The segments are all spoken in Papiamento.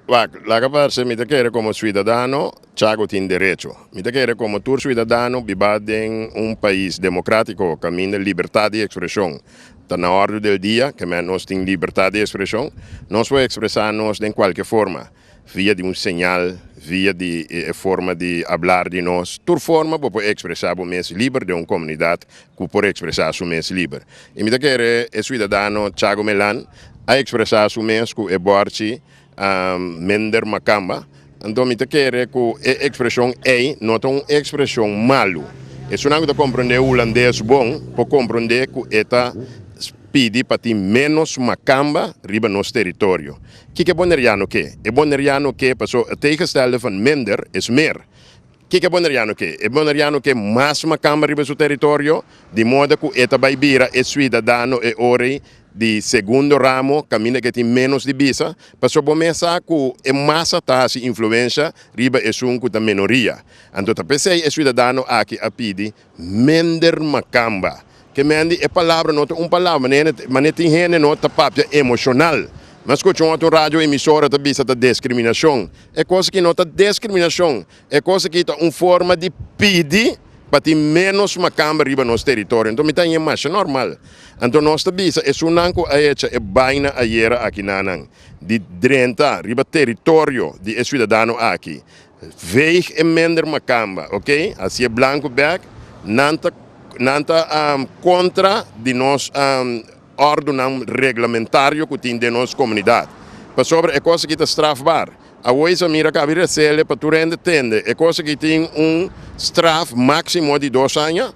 Wak, laga pa harsé mi ta kere komo suidadano, Chago tin derecho. Mi ta kere komo tur suidadano bibá den un pais demokratiko kaminda libertat di ekspreshon ta na òrdu del dia, ke mèn nos tin libertat di ekspreshon, nos por ekspresá nos den kualke forma, via di un señal, via di e forma di hablar di nos, tur forma bo por ekspresá bo mes liber den un komunidat ku por ekspresá su mes liber. I mi ta kere e suidadano Chago Melan a ekspresá su mes ku e bòrchi a mender makamba, anto mi ta kere ku e ekspreshon ei no ta un ekspreshon malu. Esunnan ku ta komprondé hulandes bon por komprondé ku e ta pidi pa tin ménos makamba riba nos teritorio. Kiko e Boneriano ke? E Boneriano ke paso e tegengestelde van minder is meer. Kiko e Boneriano ke? E Boneriano ke mas makamba riba su teritorio, di moda ku e ta bai bira e suidadano e orei di segundo ramo, kaminda ke tin ménos di bisa, pasobra bo mes sa ku e masa ta hasi influensha riba esun ku ta menoria. Anto ta p'esei e suidadano aki a pidi Mender Makamba, Ke Mandy e palabra no ta un palabra, mane tin hende no ta papia emocional. M'a scucha un otro radio emisora ta bisa ta descriminacion. E cos aki no ta descriminacion, e cos aki ta un forma di pidi pa tin menos Makamba riba nos territorio. Anto mi ta hien masha normal. Anto nos ta bisa esunnan cu a hecha e baina ayera aki nanan di drenta riba territorio di e ciudadano aki, Veeg e mender makamba, ok? Así e blanco bek, Nan ta, nan ta contra di nos ordonan reglamentario cu tin den nos comunidad. Pasobra e cos aki ta strafbaar. Awoy sa mira Kabi Resele pa tur hende tende e cos aki tin un straf maximo di dos aña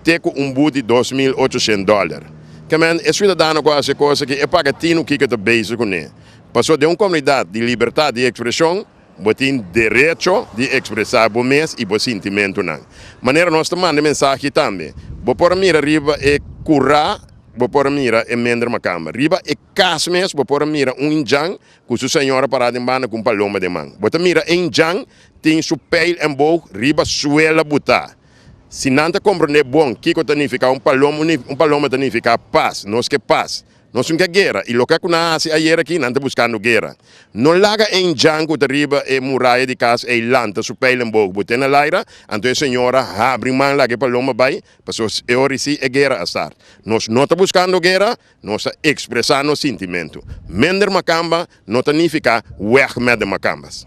te cu un boet di dos mil ochoshent dollar. Kemen e ciudadano cu haci e cos aki e paga tinu kiko ta bezig cu ne. Paso den un comunidad di libertad di expresion, Bo tin derecho di ekspresá bo mes i bo sintimentunan. Manera nos ta manda e mensahe tambe, bo por a mira riba e kurá, bo por a mira e mender makamba. Riba e kas mes bo por a mira un indjan ku su señora pará den banda ku un paloma den man. Bo ta mira e indjan tin su peil enboog riba suela butá. Si nan ta komprondé bon kiko ta nifiká un paloma, un paloma ta nifiká pas. Nos ke pas. Nos tin ke guera i loke ku nan a hasi ayer aki, nan ta buskando guera. No laga ein djan ku ta riba e muraya di kas ei lanta su pijl den bogo. Bo tene laira? Anto e señora habri man laga e paloma bai, paso e ora i si e guera a start. Nos no ta buskando guera, nos ta ekspresá nos sintimentu. Mender makamba no ta nifiká weg mèt den makambas.